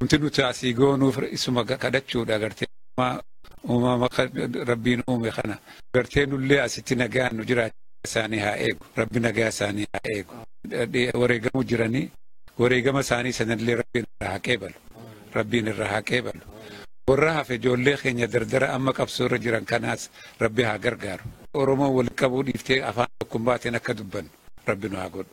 Wanti nuti asii goonuuf isuma kadhachuudha gartee uumama rabbiin uume kana gartee nullee asitti nagaan nu jiraachuu isaanii haa eegu rabbi nagaa isaanii haa eegu wareegamu jiranii wareegama isaanii sanallee rabbiin irraa haa qeebalu rabbiin irraa haa qeebalu warra hafe ijoollee keenya dardara amma qabsoo irra jiran kanaas rabbi haa gargaaru oromoo walitti qabuu dhiiftee afaan tokkummaatiin akka dubbannu rabbi nu haa godhu.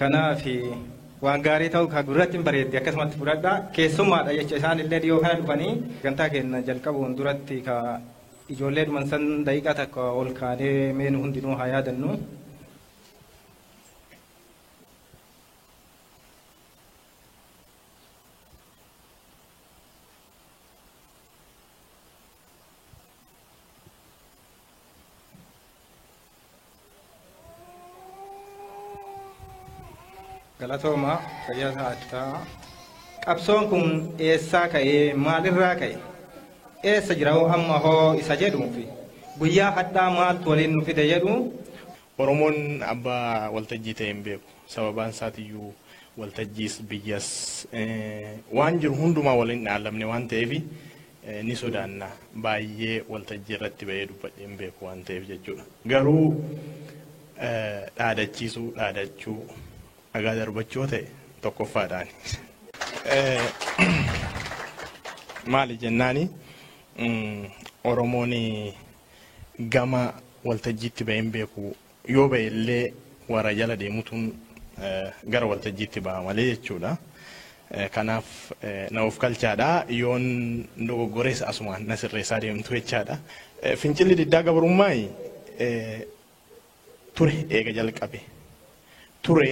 Kanaaf waan gaarii ta'uu kan gurratti hin bareeddi akkasumatti fudhadha. Keessummaadha jecha isaan illee dhiyoo kana dhufanii gantaa keenya jalqabuun duratti ka ijoollee dhuman san daqiiqaa takka ol kaanee meenu hundinuu haa yaadannu. Galatoomaa fayyaa ta'aa. Qabsoon kun eessaa ka'ee maalirraa ka'e? Eessa jira hoo amma hoo isa jedhuu fi guyyaa hadhaa maaltu waliin nu fide jedhu Oromoon abbaa waltajjii ta'e hin beeku. Sababaan isaatiyyuu waltajjiis biyyas waan jiru hundumaa waliin dhaallamne waan ta'eef ni sodaanna. Baay'ee waltajjii irratti ba'ee dubbadhee hin beeku waan ta'eef jechuudha. Garuu dhaadachiisuu, dhaadachuu, dhagaa darbachuu yoo ta'e tokkoffaadhaani. Maali jennaani Oromoon gama waltajjiitti ba'ee hin beeku Yoo ba'e illee warra jala deemutuun gara waltajjiitti baha malee jechuudha. Kanaaf na ofkalchaadha. Yoon dogoggorees asumaan na sirreessaa deemtu jechaadha. Fincilli diddaa gabrummaai ture eega jalqabe. Ture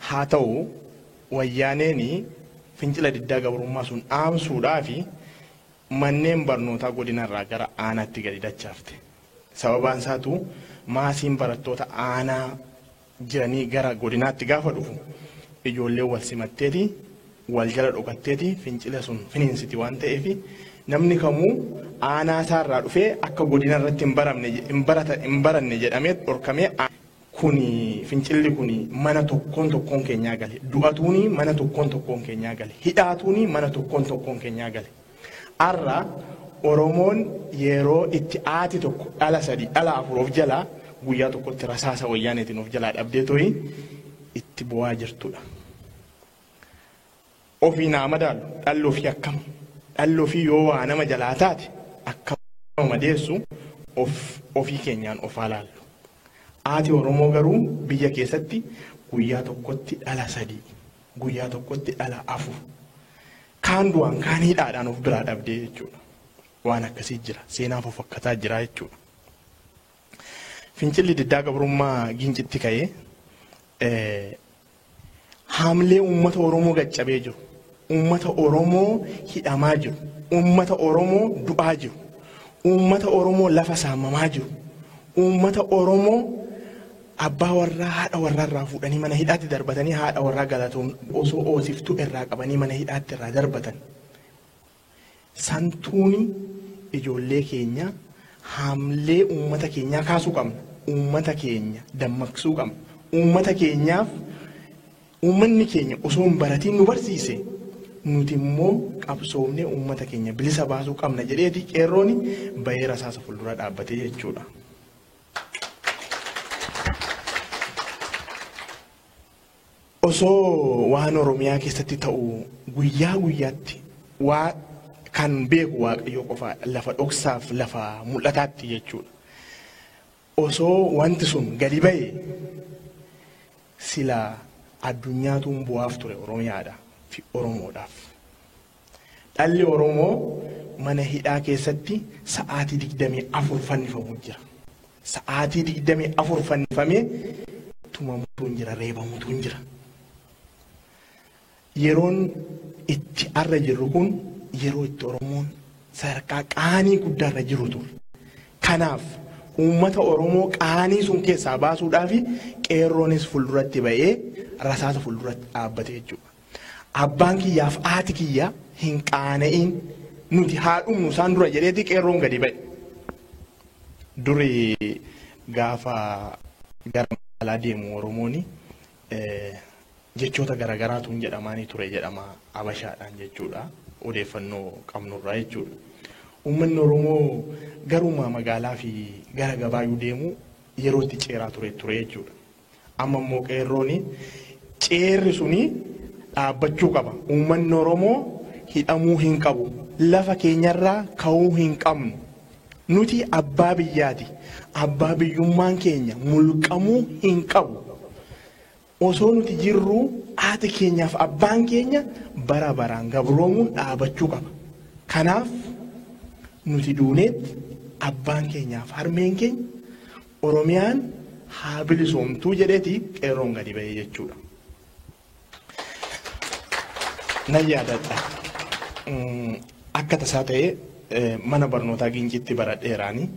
haa ta'u wayyaaneen fincila diddaa gabrummaa sun dhaamsuudhaaf manneen barnootaa godinarraa gara aanaatti gadi dachaafte. Sababaan isaatuu maasiin barattoota aanaa jiranii gara godinaatti gaafa dhufu ijoolleen wal simatteeti, wal jala dhokatteeti fincila sun finiinsiti waan ta'eef namni kamuu aanaa isaa irraa dhufee akka godina irratti hin baramne hin barata hin baranne jedhamee dhorkamee kuni fincilli kuni mana tokkoon tokkoon keenyaa gale du'atuuni mana tokkoon tokkoon keenyaa gale hidhaatuuni mana tokkoon tokkoon keenyaa gale. Arra Oromoon yeeroo itti aati tokko dhala sadii dhala afur of jalaa guyyaa tokkotti rasaasa wayyaaneetiin of jalaa dhabdee toyi itti bu'aa jirtudha. Ofii naa madaalu dhalli ofii akkam dhalli ofii yoo waa nama jalaa taate akka nama madeessu of ofii keenyaan of haa laallu. Aati Oromoo garuu biyya keessatti guyyaa tokkotti dhala sadii guyyaa tokkotti dhala afur Kaan du'aan kaan hidhaadhaan of biraa dhabdee jechuudha. Waan akkasii jira. Seenaa fofakkataa jira jechuudha. Fincilli diddaa gabrummaa gincitti ka'ee eh, haamlee uummata Oromoo gaccabee jiru. Uummata Oromoo hidhamaa jiru. Uummata Oromoo du'aa jiru. Uummata Oromoo lafa saamamaa jiru. Uummata Oromoo Abbaa warraa haadha warraa irraa fuudhanii mana hidhaatti darbatanii haadha warraa galatoom osoo oosiftuu irraa qabanii mana hidhaatti irraa darbatan. Santuuni ijoollee keenya haamlee uummata keenyaa kaasuu qabna. Uummata keenya dammaqsuu qabna. Uummata keenyaaf uummanni keenya osoo hin baratiin nu barsiise nuti immoo qabsoomnee uummata keenya bilisa baasuu qabna jedheeti qeerrooni bahee rasaasa fuuldura dhaabbate jechuudha. Osoo waan Oromiyaa keessatti ta'u guyyaa guyyaatti waa kan beeku Waaqayyoo qofaadha. Lafa dhoksaaf lafa mul'ataatti jechuudha. Osoo wanti sun gadi ba'e sila addunyaatuun bu'aaf ture Oromiyaadha fi Oromoodhaaf. Dhalli Oromoo mana hidhaa keessatti sa'aatii 24 fannifamuu jira. Sa'aatii 24 fannifamee tumamutu hin jira, reebamutu hin jira. Yeroon itti arra jirru kun yeroo itti Oromoon sadarkaa qaanii guddaarra jiru ture. Kanaaf uummata Oromoo qaanii sun keessaa baasuudhaaf qeerroonis fuulduratti ba'ee rasaasa fuulduratti dhaabbate jechuudha. Abbaan kiyyaaf haati kiyya hin qaana'iin nuti haa dhumnu isaan dura jedheeti qeerroon gadi ba'e. Duri gaafa gara magaalaa deemu Oromooni eh, jechoota garaagaraatuun jedhamaanii ture jedhama Abashaadhaan jechuudha. Odeeffannoo qabnurraa jechuudha. Uummanni Oromoo garuma magaalaa fi gara gabaayuu deemu yeroo itti ceeraa ture ture jechuudha. Amma immoo qeerrooni ceerri suni dhaabbachuu qaba. Uummanni Oromoo hidhamuu hin qabu. Lafa keenyarraa ka'uu hin qabnu. Nuti abbaa biyyaati. Abbaa biyyummaan keenya mulqamuu hin qabu. Osoo nuti jirruu haati keenyaaf abbaan keenya bara baraan gabroomuun dhaabachuu qaba. Kanaaf nuti duuneetti abbaan keenyaaf harmeen keenya Oromiyaan haa bilisoomtuu jedheeti qeerroon gadi ba'ee jechuudha. Nan yaadadha. Akka tasaa ta'ee mana barnootaa Giinciitti baradheeraani.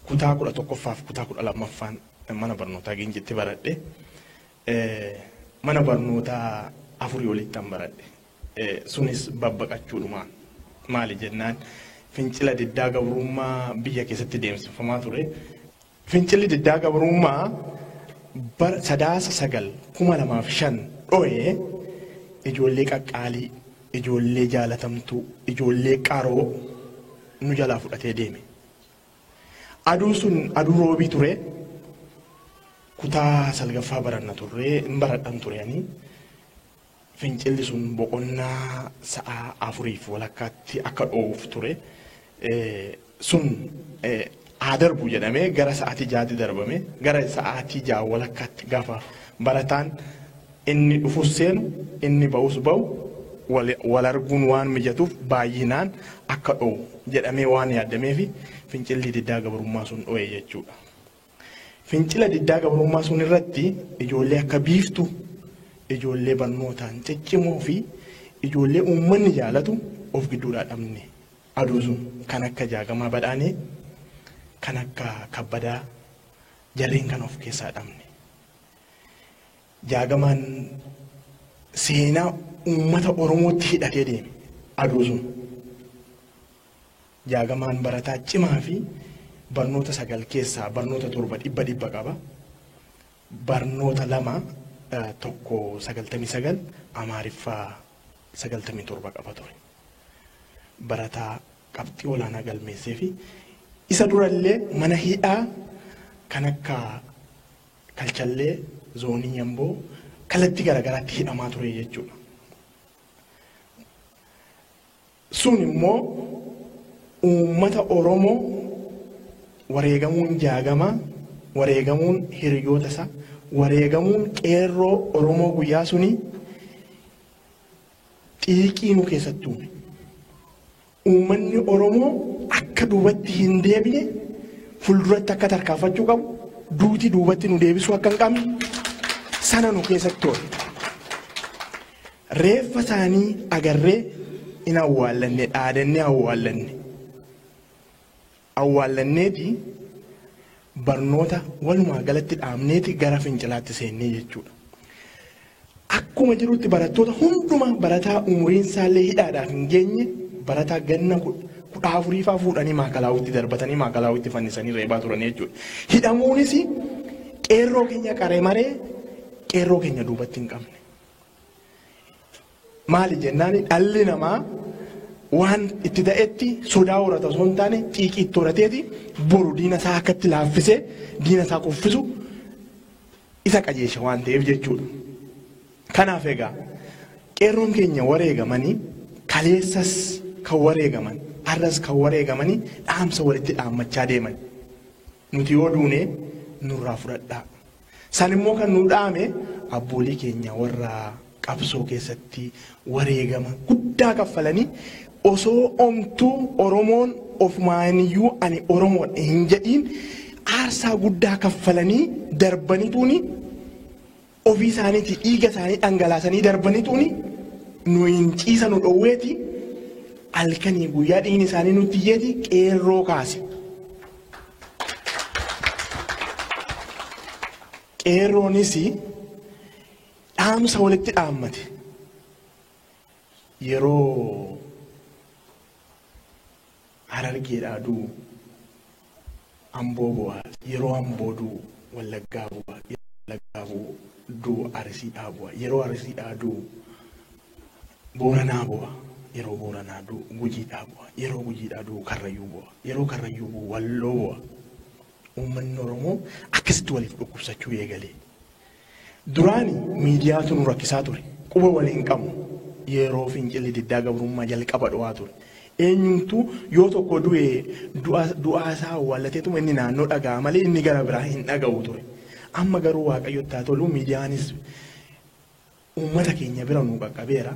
Kutaa kudha tokkoffaaf kutaa kudha lammaffaan mana barnootaa Giinciitti baradhe. Mana barnootaa afurii olittan baradhe. Sunis babbaqachuudhuma. Maali jennaan fincila diddaa gabrummaa biyya keessatti deemsifamaa ture. Fincilli diddaa gabrummaa bara sadaasa sagal kuma lamaaf shan dho'e ijoollee qaqqaalii, ijoollee jaalatamtuu, ijoollee qaroo nu jalaa fudhatee deeme. Aduun sun aduu roobii ture. Kutaa salgaffaa baranna turre, hin baradhan ture ani. Fincilli sun boqonnaa sa'a afuriif walakkaatti akka dhoowuuf ture sun haa darbu jedhamee gara sa'aatii jaatti darbame gara sa'aatii jaa walakkaatti gaafa barataan inni dhufus seenu inni ba'us ba'u wal arguun waan mijatuuf baay'inaan akka dho'u jedhamee waan yaadameefi fincilli diddaa gabrummaa sun dho'e jechuudha. Fincila diddaa gabrummaa sun irratti ijoollee akka Biiftuu, ijoollee barnootaan ciccimoo fi ijoollee uummanni jaalatu of gidduudhaa dhabne. Aduu sun kan akka Jaagamaa Badhaanee, kan akka Kabbadaa jarreen kana of keessaa dhabne. Jaagamaan seenaa uummata Oromootti hidhatee deeme aduu sun. Jaagamaan barataa cimaa fi barnoota sagal keessaa barnoota torba dhibba dhibba qaba. Barnoota lama eh, tokko sagaltamii sagal Amaariffaa sagaltamii torba qaba ture. Barataa qabxii olaanaa galmeessee fi isa durallee mana hidhaa kan akka kalchallee zoonii yamboo kalatti garaagaraatti hidhamaa ture jechuudha. Sun immoo uummata Oromoo wareegamuun Jaagamaa, wareegamuun hiriyoota isaa, wareegamuun qeerroo Oromoo guyyaa sunii xiiqii nu keessatti uume. Uummanni Oromoo akka duubatti hin deebine fulduratti akka tarkaanfachuu qabu duuti duubatti nu deebisuu akka hin qabne sana nu keessatti hoole. Reeffa isaanii agarree in awwaallanne, dhaadannee awwaallanne. Awwaallanneeti barnoota walumaa galatti dhaabneeti gara fincilaatti seennee jechuudha. Akkuma jirutti barattoota hundumaa barataa umuriin isaallee hidhaadhaaf hin geenye barataa ganna kudha afuriifaa fuudhanii maakalaawwitti darbatanii maakalaawwitti fannisanii reebaa turan jechuudha. Hidhamuunis qeerroo keenya qaremaree qeerroo keenya duubatti hin qabne. Maali jennaan dhalli namaa waan itti ta'etti sodaa horata osoo hin taane xiiqii itti horateeti boru diina isaa akkatti laaffisee diina isaa kuffisu isa qajeesha waan ta'eef jechuudha. Kanaaf egaa qeerroon keenya wareegamanii kaleessas kan wareegaman arras kan wareegamanii dhaamsa walitti dhaammachaa deeman. Nuti yoo duune nurraa fudhadhaa. San immoo kan nu dhaame abboolii keenya warra qabsoo keessatti wareegama guddaa kaffalanii osoo omtuu Oromoon ofumaaniyyuu ani Oromoodha hin jedhiin aarsaa guddaa kaffalanii darbanituuni ofii isaaniitii dhiiga isaanii dhangalaasanii darbanituuni nu hin ciisa nu dhoowweeti halkanii guyyaa dhiigni isaanii nutti iyyeeti qeerroo kaase. Qeerroonis dhaamsa walitti dhaammate yeroo harargeedhaa du'u Amboo bu'a, yeroo Amboo du'u Wallaggaa bu'a, yeroo Wallaggaa bu'u du'u Arisiidhaa bu'a, yeroo Arisiidhaa du'u Booranaa bu'a, yeroo Booranaa du'u Gujiidhaa bu'a, yeroo Gujiidhaa du'u Karrayyuu bu'a, yeroo Karrayyuu bu'u Walloo bu'a. Uummanni Oromoo akkasitti waliif dhukkubsachuu eegale. Duraani miidiyaatu nu rakkisaa ture. Quba wal hin qabnu. Yeroo fincilli diddaa gabrummaa jalqaba dho'aa ture. Eenyumtuu yoo tokko du'e du'aa isaa awwaallateetuma inni naannoo dhaga'a malee inni gara biraa hin dhaga'u ture. Amma garuu Waaqayyotti haa tolu miidiyaanis uummata keenya bira nu qaqqabeera.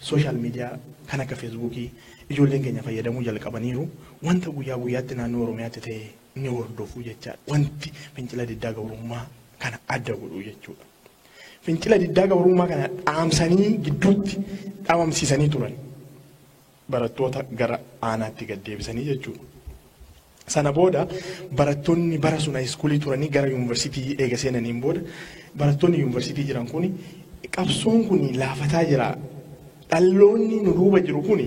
Sooshaal miidiyaa kan akka feesbuukii ijoolleen keenya fayyadamuu jalqabaniiru. Wanta guyyaa guyyaatti naannoo Oromiyaatti ta'e ni hordofu jechaadha. Wanti fincila diddaa gabrummaa kana adda godhu jechuudha. Fincila diddaa gabrummaa kana dhaamsanii gidduutti dhabamsiisanii turan. Barattoota gara aanaatti gad deebisanii jechuudha. Sana booda barattoonni bara sun haayiskuulii turanii gara yuunivarsiitii eega seenaniin booda barattoonni yuunivarsiitii jiran kun qabsoon kun laafataa jira Dhalloonni nu duuba jiru kun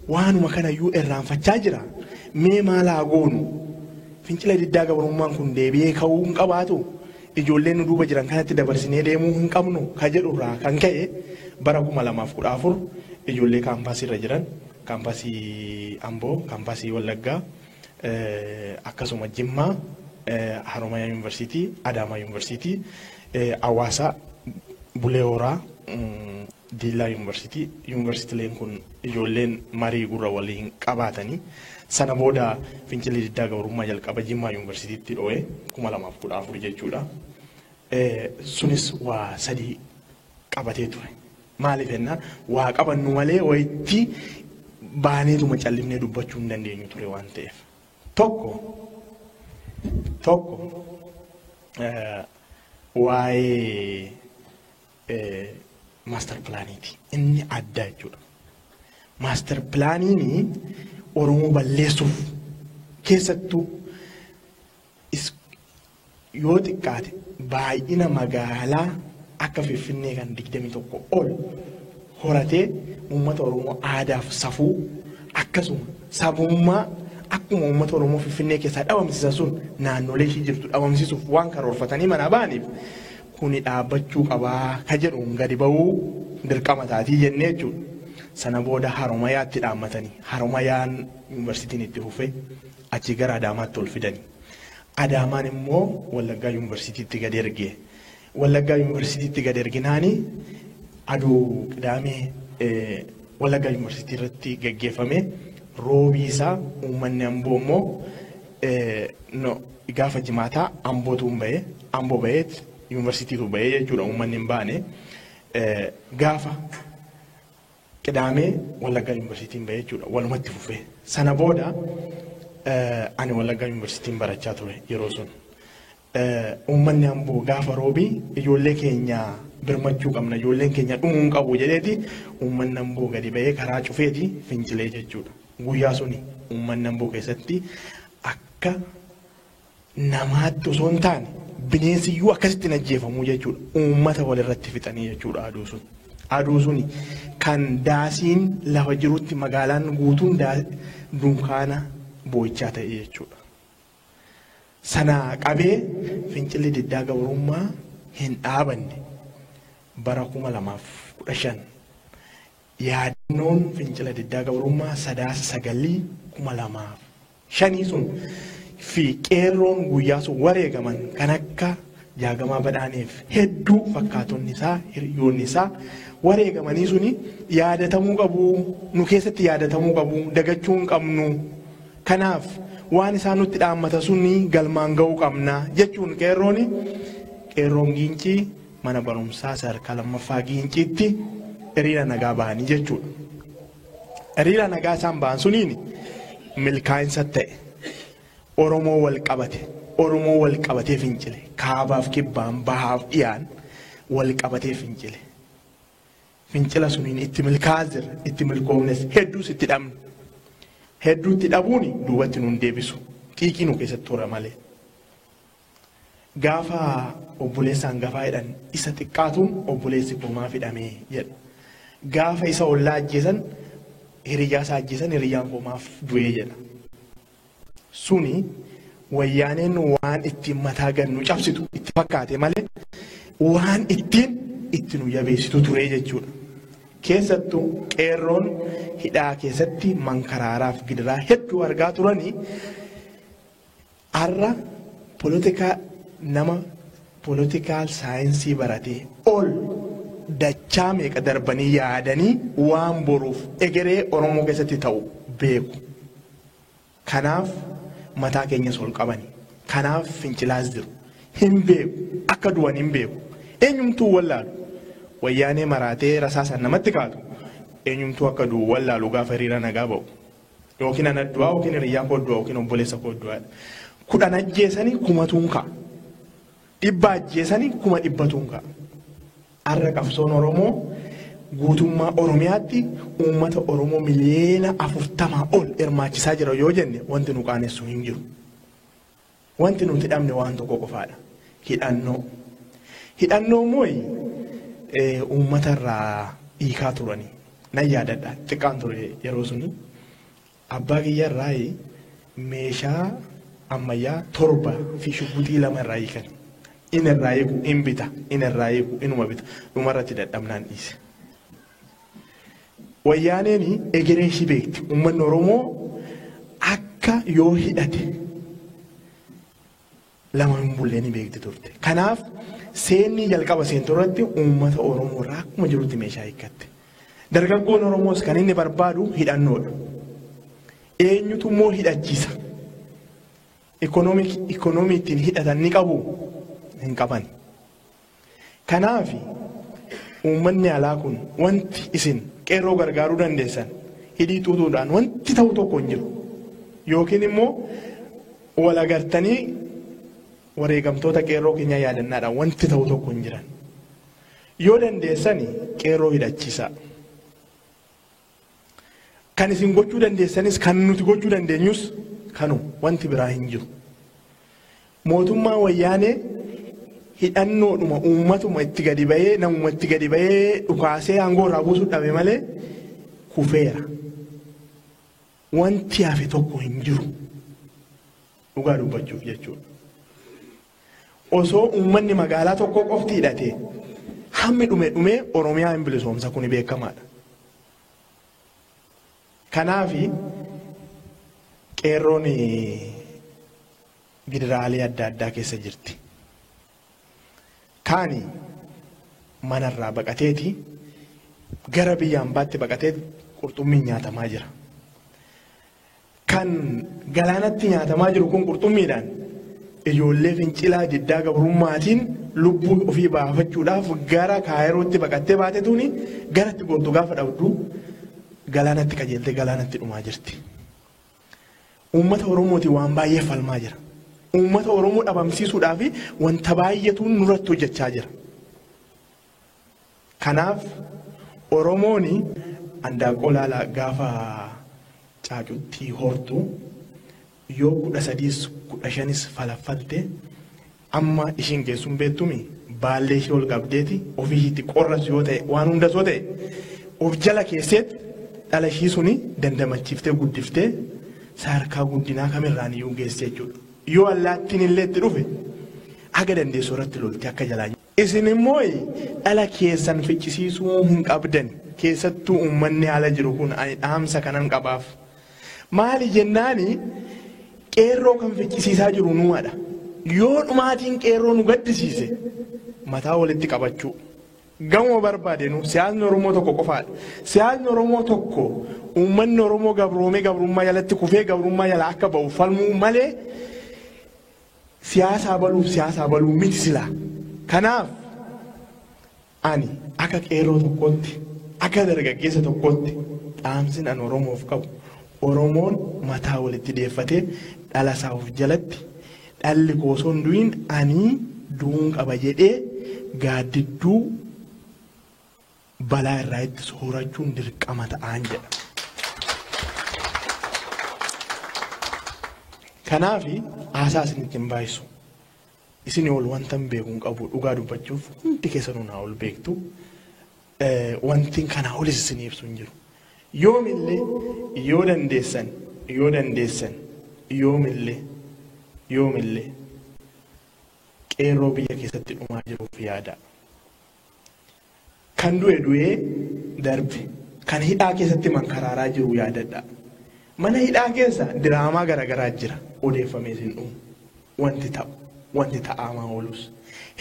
waanuma kanayyuu irraanfachaa jira. Mee maal haa goonu? Fincila diddaa gabrummaan kun deebi'ee ka'uu hin qabaatu? Ijoollee nu duuba jiran kanatti dabarsinee deemuu hin qabnu? Ka jedhu irraa kan ka'e bara 2014 ijoollee kaampaasii irra jiran, kaampaasii Amboo, kaampaasii Wallaggaa, akkasuma Jimmaa, Haromaya Yuunivarsiitii, Adaamaa Yuunivarsiitii, Hawaasaa, Bulee Horaa, Diillaa Yuunvarsiitii, Yuunvarsitileen kun ijoolleen marii gurra waliin qabaatanii sana booda fincilli diddaa gabrummaa jalqaba Jimmaa Yuunvarsiitiitti dho'e 2014 jechuudha. Sunis waa sadii qabatee ture. Maaliif jennaan waa qabannu malee wayitti baaneetuma callifnee dubbachuu hin dandeenyu ture waan ta'eef. Tokko tokko waa'ee maastar pilaaniiti. Inni addaa jechuudha. Maastar pilaaniin Oromoo balleessuuf keessattuu is- yoo xiqqaate baay'ina magaalaa akka Finfinnee kan 21 ol horatee uummata Oromoo aadaaf safuu akkasuma sabummaa akkuma uummata Oromoo Finfinnee keessaa dhabamsiisan sun naannolee ishii jirtu dhabamsiisuuf waan karoorfatanii manaa ba'aniif kuni dhaabbachuu qaba ka jedhuun gadi ba'uu dirqama taatii jennee jechuudha. Sana booda Haromayaatti dhaammatani. Haromayaan yuunivarsiitiin itti fufe achii gara Adaamaatti ol fidani. Adaamaan immoo Wallaggaa yuunivarsiitiitti gad erge. Wallaggaa yuunivarsiitiitti gad erginaani aduu qidaamee eh, Wallaggaa yuunivarsiitii irratti gaggeeffame roobii isaa uummanni amboo immoo No, gaafa jimaataa Ambootu hin bahee, Amboo baheet yuunivarsiitiitu bahee jechuudha uummanni hin baane. Gaafa qidaamee Wallaggaa yuunivarsiitiin bahee jechuudha walumatti fufee. Sana booda ani Wallaggaa yuunivarsiitiin barachaa ture yeroo sun. Uummanni Amboo gaafa Roobii ijoollee keenya birmachuu qabna, ijoolleen keenya dhumuu hin qabu jedheeti uummanni Amboo gadi ba'ee karaa cufeeti fincilee jechuudha. Guyyaa suni uummanni Amboo keessatti akka namaatti osoo hin taane bineensi iyyuu akkasitti hin ajjeefamu jechuudha. Uummata walirratti fixanii jechuudha aduu sun. Aduu suni kan daasiin lafa jirutti magaalaan guutuun dunkaana boo'ichaa ta'e jechuudha. Sanaa qabee fincilli diddaa gabrummaa hin dhaabanne. Bara 2015 yaadannoon fincila diddaa gabrummaa sadaasa sagalii 2005 sun fi qeerroon guyyaa sun wareegaman kan akka jaagamaa badhaaneef hedduu fakkaatonni isaa hiriyoonni isaa wareegamanii suni yaadatamuu qabu nu keessatti yaadatamuu qabu dagachuu hin qabnu Kanaaf waan isaan nutti dhaammata suni galmaan ga'uu qabna jechuun qeerroon qeerroon Giincii mana barumsaa sadarkaa lammaffaa Giinciitti hiriira nagaa bahanii jechuudha. Hiriira nagaa isaan bahan suniin milkaa'insa ta'e Oromoo wal qabate Oromoo wal qabatee fincile kaabaaf kibbaan bahaaf dhiyaan wal qabatee fincile Fincila suniin itti milkaa'aa jirra. Itti milkoofnes hedduus itti dhabne. Hedduu itti dhabuun duubatti nuun deebisu. Xiiqii nu keessatti hora malee. Gaafa obboleessa hangafaa hidhan isa xiqqaatuun obboleessi koo maaf hidhamee jedha. Gaafa isa ollaa ajjeesan hiriyyaa isaa ajjeesan hiriyyaan koo maaf du'ee jedha. suni wayyaaneen waan ittiin mataa gad nu cabsitu itti fakkaate malee waan ittiin itti nu jabeessitu ture jechuudha. Keessattu qeerroon hidhaa keessatti mankaraaraaf gidiraa hedduu argaa turanii har'a polotikaa nama poolotikaal saayinsii baratee ol dachaa meeqa darbanii yaadanii waan boruuf egeree Oromoo keessatti ta'u beeku. Kanaaf mataa keenyas ol qabani. Kanaaf fincilaas jiru. Hin beeku. Akka du'an hin beeku. Eenyumtuu hin wallaalu. Wayyaanee maraatee rasaasaan namatti kaatu eenyumtuu akka du'u hin wallaalu gaafa hiriira nagaa ba'u. Yookiin ana du'aa yookiin hiriyyaa koo du'a yookiin obboleessa koo du'a. Kudhan ajjeesanii kumatuun ka'a. Dhibba ajjeesanii kuma dhibbatuun ka'a. Arra qabsoon Oromoo guutummaa Oromiyaatti uummata Oromoo miliyeena 40 ol hirmaachisaa jira yoo jenne wanti nu qaanessu hin jiru. Wanti nuti dhabne waan tokko qofaadha. Hidhannoo. Hidhannoo immoo uummata irraa hiikaa turani. Nan yaadadha xiqqaan ture yeroo suni. Abbaa kiyya irraa meeshaa ammayyaa torba fi shugguxii lama irraa hiikan. In irraa hiiku, in bita, in irraa hiiku, inuma bita. Dhuma irratti dadhabnaan dhiise. Wayyaaneen egeree ishii beekti. Uummanni Oromoo akka yoo hidhate lama hin bulle ni beekti turte. Kanaaf seenni jalqaba seentu irratti uummata Oromoo irraa akkuma jirutti meeshaa hiikkatte. Dargaggoon Oromoos kan inni barbaadu hidhannoodha. Eenyutu immoo hidhachiisa? Ikoonoomii ittiin hidhatan ni qabu? Hin qaban. Kanaafi uummanni alaa kun wanti isin qeerroo gargaaruu dandeessan hidhii xuuxuudhaan wanti ta'u tokko hin jiru. Yookiin immoo wal agartanii wareegamtoota qeerroo keenyaa yaadannaadhaan wanti ta'u tokko hin jiran. Yoo dandeessani qeerroo hidhachiisaa. Kan isin gochuu dandeessanis kan nuti gochuu dandeenyus kanu wanti biraa hin jiru. Mootummaa wayyaanee hidhannoodhuma uummatuma itti gadi ba'ee namuma itti gadi ba'ee dhukaasee aangoo irraa buusuu dhabe malee kufeera. Wanti hafe tokko hin jiru. Dhugaa dubbachuuf jechuudha. Osoo uummanni magaalaa tokkoo qofti hidhatee hammi dhume dhumee Oromiyaa hin bilisoomsa kuni beekamaadha. Kanaafi qeerroon gidiraalee adda addaa keessa jirti. Kaani manarraa baqateeti gara biyya ambaatti baqatee qurxummiin nyaatamaa jira. Kan galaanatti nyaatamaa jiru kun qurxummiidhaan ijoollee fincilaa diddaa gabrummaatiin lubbuu ofii baafachuudhaaf gara kaayirootti baqattee baate tuuni garatti gortu gaafa dhabdu galaanatti qajeeltee galaanatti dhumaa jirti. Uummata Oromootiin waan baay'ee falmaa jira. Uummata Oromoo dhabamsiisuudhaaf wanta baay'eetu nurratti hojjechaa jira. Kanaaf Oromooni andaaqoo laala gaafa caacutti hortu yoo kudha sadiis kudha shanis falaffalte amma ishiin geessu hin beettumi baallee ishii ol qabdeeti ofii ishiitti qorras yoo ta'e waan hundas yoo ta'e of jala keesseet dhala ishii suni dandamachiiftee guddiftee sadarkaa guddinaa kamirraan iyyuu geesse jechuudha. Yoo allaattiin illee itti dhufe haga dandeessu irratti lolti akka jalaa Isin immoo dhala keessan ficcisiisuu hin qabdan. Keessattuu uummanni ala jiru kun ani dhaamsa kanan qabaaf. Maali jennaani qeerroo kan ficcisiisaa jiru numadha. Yoo dhumaatiin qeerroo nu gaddisiise mataa walitti qabachuu. Gamuma barbaadenu siyaasni Oromoo tokko qofaadha. Siyaasni Oromoo tokko uummanni Oromoo gabroomee gabrummaa jalatti kufee gabrummaa jalaa akka ba'u falmuu malee Siyaasaa baluuf siyaasaa baluu miti silaa. Kanaaf ani akka qeerroo tokkootti, akka dargaggeessa tokkootti dhaamsin an Oromoof qabu Oromoon mataa walitti deeffatee dhala isaa of jalatti dhalli koo osoo hin du'iin ani du'uun qaba jedhee gaaddidduu balaa irraa ittisu horachuun dirqama ta'aan jedha. Kanaaf haasaa isinitti hin baay'isu. Isinii ol wanta hin beeku hin qabu dhugaa dubbachuuf hundi keessanuu naa ol beektu. Eh, Wanti kanaa olis isinii ibsu hin jiru. Yoomillee yoo dandeessan yoo dandeessan yoomillee yoomillee qeerroo biyya keessatti dhumaa jiruuf yaadaa. Kan du'e du'ee darbe. Kan hidhaa keessatti mankaraaraa jiru yaadadhaa. Mana hidhaa keessa diraamaa garagaraa jira. Odeeffamee sin dhumu. Wanti ta'u, wanti ta'aamaa oolus.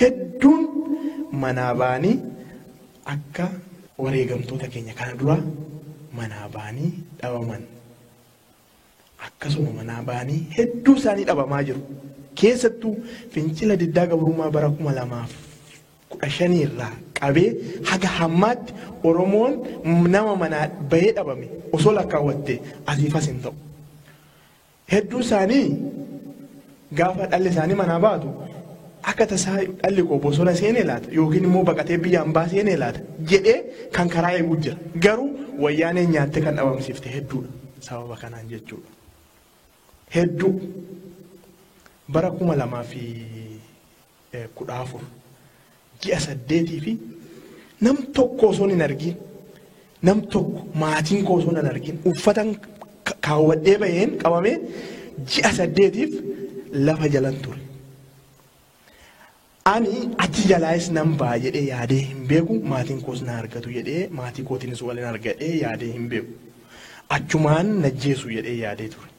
Hedduun manaa ba'anii akka wareegamtoota keenya kana duraa manaa ba'anii dhabaman. akkasuma manaa ba'anii hedduu isaanii dhabamaa jiru. Keessattuu fincila diddaa gabrummaa bara 2015 irraa qabee haga hammaatti Oromoon nama manaa bahee dhabame osoo lakkaawwatte asiifas hin ta'u. Hedduu isaanii Gaafa dhalli isaanii manaa baatu akka tasaa dhalli koo bosona seenee laata yookiin immoo baqatee biyya ambaa seenee laata jedhee kan karaa eeguu jira. Garuu wayyaanee nyaattee kan dhabamsiifte hedduudha. Sababa kanaan jechuudha. Hedduu bara kuma lamaa fi 14 ji'a saddeetii fi nam tokko osoon hin argin nam tokko maatiin koo osoon hin argin uffatan ka- kaawwadhee baheen qabamee ji'a saddeetiif lafa jalan ture. Ani achi jalaayis nan ba'a jedhee yaadee hin beeku maatiin koos na argatu jedhee maatii kootiinis waliin argadhee yaadee hin beeku. Achumaan najjeesu jedhee yaadee ture.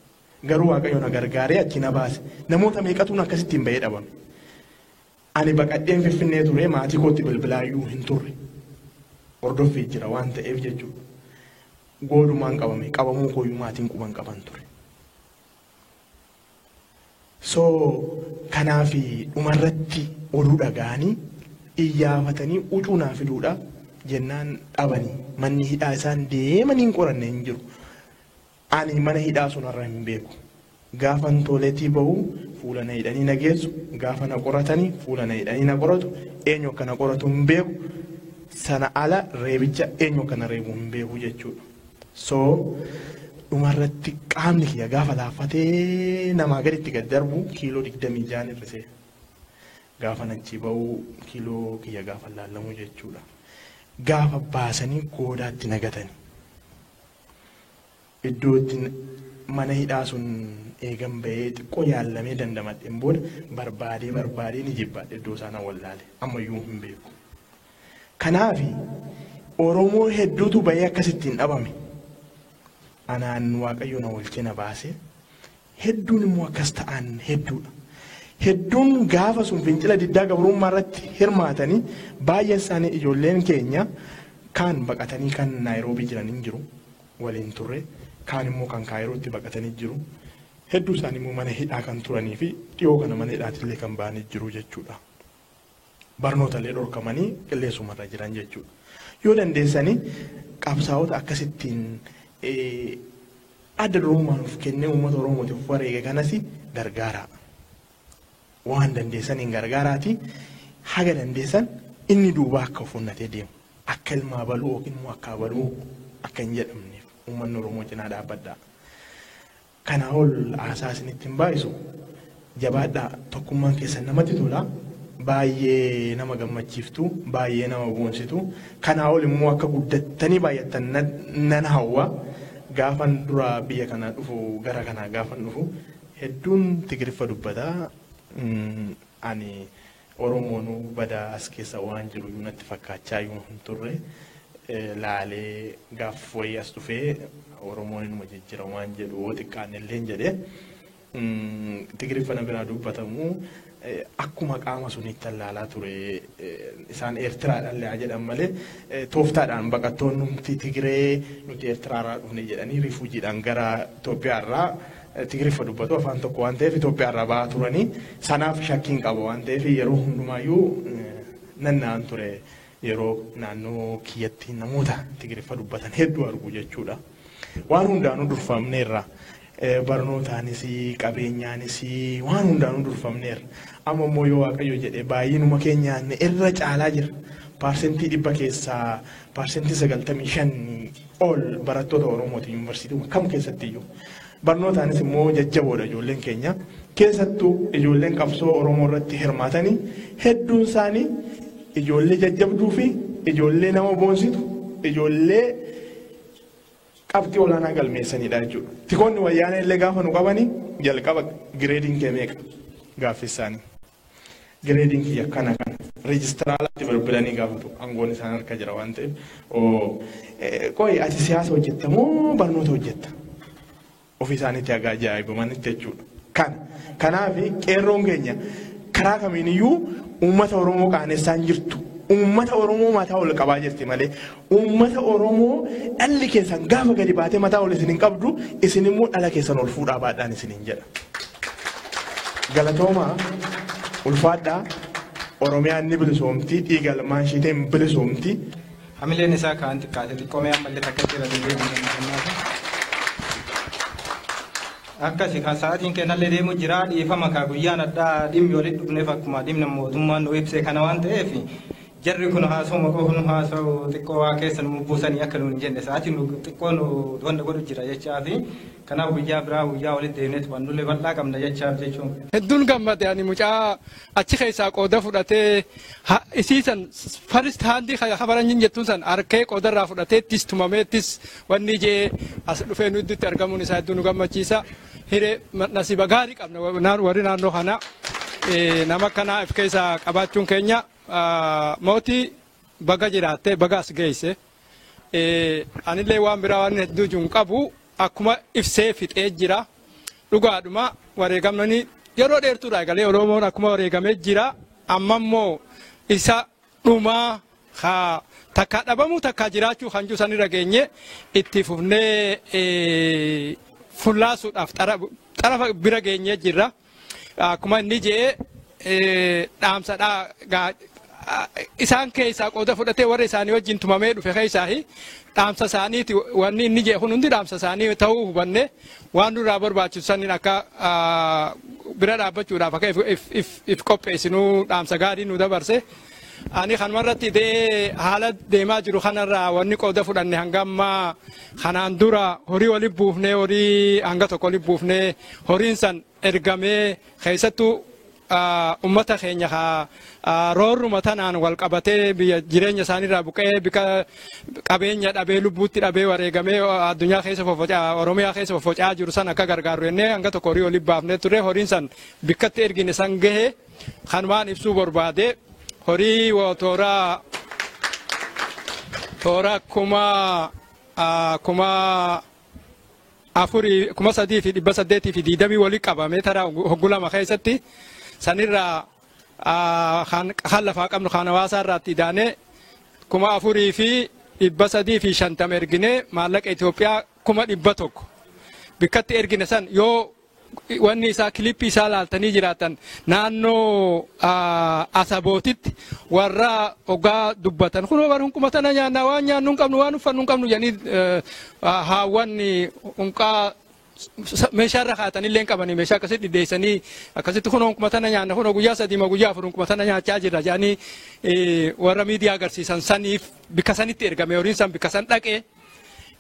Garuu Waaqayyo na gargaaree achi na baase. Namoota meeqatuun akkasittiin ba'ee dhabame. Ani baqadheen Finfinnee ture maatii kootti bilbilaayyuu hin turre. Hordoffii jira waan ta'eef jechuudha. Goolumaan qabame qabamuu kooyyuu maatiin quba hin qaban ture. So kanaaf dhumarratti oduu dhaga'anii iyyaafatanii ucuu naa fiduudha jennaan dhabanii manni hidhaa isaan deemanii hin qoranne hin jiru. Ani mana hidhaa sun irra hin beeku. Gaafan tooleetii bahu fuula na hidhanii na geessu, gaafa na qoratani fuula na hidhanii na qoratu, eenyu akka na qoratu hin beeku, sana ala reebicha eenyu akka na reebu hin beeku jechuudha. So dhumarratti qaamni kiyya gaafa laaffatee namaa gaditti gad darbu kiiloo digdamii ja'an hir'isee gaafan achii bahu kiiloo kiyya gaafa laallamu jechuudha. Gaafa baasanii goodaatti na gatani. iddoo itti mana hidhaa sun eegan bahee xiqqoo yaallamee dandamadheen booda barbaadee barbaadee ni jibbaadhe iddoo isaa na wallaale ammayyuu hin beeku. Kanaaf Oromoo hedduutu bahee akkasittiin dhabame. Anaan Waaqayyo na oolchee na baase Hedduun immoo akkas ta'an hedduudha. Hedduun gaafa sun fincila diddaa gabrummaa irratti hirmaatanii baay'een isaanii ijoolleen keenya kaan baqatanii kan Naayiroobii jiran hin jiru waliin turre kaan immoo kan Kaayirootti baqatanii jiru. Hedduu isaanii immoo mana hidhaa kan turanii fi dhiyoo kana mana hidhaatillee kan ba'anii jiru jechuudha. barnoota illee dhorkamanii qilleensuma irra jiran jechuudha. Yoo dandeessanii qabsaa'ota akkasittiin eh, adda durummaa nuuf kennee uummata Oromootiif of wareege kanas gargaaraa. Waan dandeessan hin gargaaraati. Haga dandeessan inni duubaa akka of onnatee deemu. Akka ilmaa baluu yookiin immoo akka baluu akka hin jedhamneef uummanni Oromoo cinaa dhaabbadhaa. Kanaa ol haasaa isinitti hin baay'isu. Jabaadhaa tokkummaan keessan namatti tola. Baay'ee nama gammachiiftu, baay'ee nama boonsitu. Kanaa ol immoo akka guddattanii baay'attan nan, nan hawwa. Gaafan dura biyya kana dhufu gara kanaa gaafan dhufu hedduun Tigiriffa dubbata. Mm, Ani Oromoonuu badaa as keessa waan jiruyyuu natti fakkaachaayuu hin turre. Laalee gaaf wayii as dhufee Oromoon inuma jijjira waan jedhu yoo xiqqaanne illeen jedhe. Tigiriffa na biraa dubbatamu akkuma qaama suniitti allaalaa ture. Isaan Eertiraadhaan haa jedhan malee tooftaadhaan baqattoonni nuti Tigiree nuti Eertiraarraa dhufne jedhanii rifuujiidhaan gara Itoophiyaarraa Tigiriffa dubbatu, afaan tokko waan ta'eef Itoophiyaa irraa ba'aa turanii sanaaf shakkiin qaba waan ta'eef yeroo hundumaayyuu nanna'an ture yeroo naannoo kiyyatti namoota Tigiriffa dubbatan hedduu argu jechuudha. Waan hundaanuu durfamneerra. Barnootaanis qabeenyaanis waan hundaanuu durfamneerra. Amma immoo yoo Waaqayyo jedhe baay'inuma keenyaan irra caalaa jira. Paarsentii dhibba keessaa paarsentii sagaltamii shan All barattoota Oromooti yuunivarsiitiiwwan kam keessattiyyuu. Barnootaanis immoo jajjaboodha ijoolleen keenya. Keessattuu ijoolleen qabsoo Oromoo irratti hirmaatanii hedduun isaanii ijoollee jajjabduu fi ijoollee nama boonsitu ijoollee qabxii olaanaa galmeessanidha jechuudha. Tikoonni wayyaanee illee gaafa nu qabanii jalqaba gireediin kee meeqa gaaffii isaanii. Gireediin kiyya kana kana. Reejistiraalaatti bilbilanii gaafatu. Aangoon isaan harka jira waan ta'eef. Qoy ati siyaasa hojjetta moo barnoota hojjetta? Ofii isaaniitti haga ajaa'ibamanitti jechuudha. Kan kanaaf qeerroon keenya karaa kamiiniyyuu uummata Oromoo qaanessaa hin jirtu. Uummata Oromoo mataa ol qabaa jirti malee Uummata Oromoo dhalli keessan gaafa gadi baatee mataa ol isin hin qabdu isin immoo dhala keessan ol fuudhaa baadhaan isiniin jedha. Galatoomaa ulfaadhaa Oromiyaan ni bilisoomti dhiiga ilmaan ishiitiin hin bilisoomti. Hamileen isaa kaan xiqqaate xiqqoomee ammallee takka jira deebi'ee deemuudhaan akkasi kan sa'aatiin kennallee deemu jira dhiifama kaa guyyaan addaa dhimmi walitti dhufneef akkuma dhimma mootummaan nu ibse kana waan ta'eef Jarri kun haasawuma qofa nu haasawu xiqqoo waa keessa nu bubbuusanii akka nuun hin jenne sa'aatii nu xiqqoo nu wanna godhu jira jechaafi kanaaf guyyaa biraa guyyaa walitti deemnee tuqannullee bal'aa qabna jechaaf jechuun. Hedduun gammade ani mucaa achi keessaa qooda fudhatee ha- isii san first hand ka ka faranjiin jettuun san harkee qooda irraa fudhateettis tumameettis wanni je'ee as dhufee nu idduutti argamuun isaa hedduu nu gammachiisa. Hiree ma- nasiba gaarii qabna wa- naan- warri naannoo kana eh, nama akkanaa if keessaa qabaachuun keenya Mootii baga jiraatte baga as geesse. Anillee waan biraa waan hedduu jiru hin qabu akkuma ibsee fixee jira. Dhugaadhuma wareegamni yeroo dheertuudha egalee Oromoon akkuma wareegamee jira. Amma immoo isa dhumaa haa takkaa dhabamuu takkaa jiraachuu kan jiru sanirra geenye itti fufnee fullaasuudhaaf xarafa bira geenyee jirra. Akkuma inni jee dhaamsadhaa gaa isaan keessaa qooda fudhatee warra isaanii wajjin tumamee dhufe keessaa dhaamsa isaaniiti wanni inni jee kun hundi dhaamsa isaanii ta'uu hubanne waan nurraa barbaachisu saniin akka bira dhaabbachuudhaaf akka if qopheessinuu dhaamsa gaarii nu dabarse Ani kanuma irratti dee haala deemaa jiru kanarraa wanni qooda fudhanne hanga ammaa kanaan dura horii wali buufnee horii hanga tokko wali buufnee horiin san ergamee keessattuu ummata keenya roorruma tanaan wal qabatee biyya jireenya isaaniirraa buqqee bika qabeenya dhabee lubbuutti dhabee wareegamee addunyaa keessa foffocaa oromiyaa keessa foffocaa jiru san akka gargaaru jennee hanga tokko horii wali baafnee ture horiin san bikkatti ergine san gahee Kanumaan ibsuu barbaade horii tooraa toora kuma kuma afurii kuma sadii fi dhibba saddeetii fi diidamii wali qabame tara hoggu lama keessatti sanirraa kan lafaa qabnu kan hawaasaa irraatti idaanee kuma afurii fi dhibba sadii fi shantama erginee maallaqa Itoophiyaa kuma dhibba tokko bikkatti ergine san yoo wanni isaa kilippii isaa laaltanii jiraatan naannoo ah, asabootitti warra ogaa dubbatan kun waan hunkuma tana nyaanna waan nyaannu hin qabnu waan uffannu hin qabnu jedhanii eh, ah, haawwanni hunqaa sa- meeshaa irra kaatanillee hin qabanii meeshaa akkasitti dhiddeessanii akkasitti kun hunkuma tana nyaanna kun guyyaa sadii moo guyyaa afur hunkuma tana nyaachaa jirra jedhanii eh, warra miidiyaa agarsiisan saniif bikka sanitti ergame horiin san bikka san dhaqee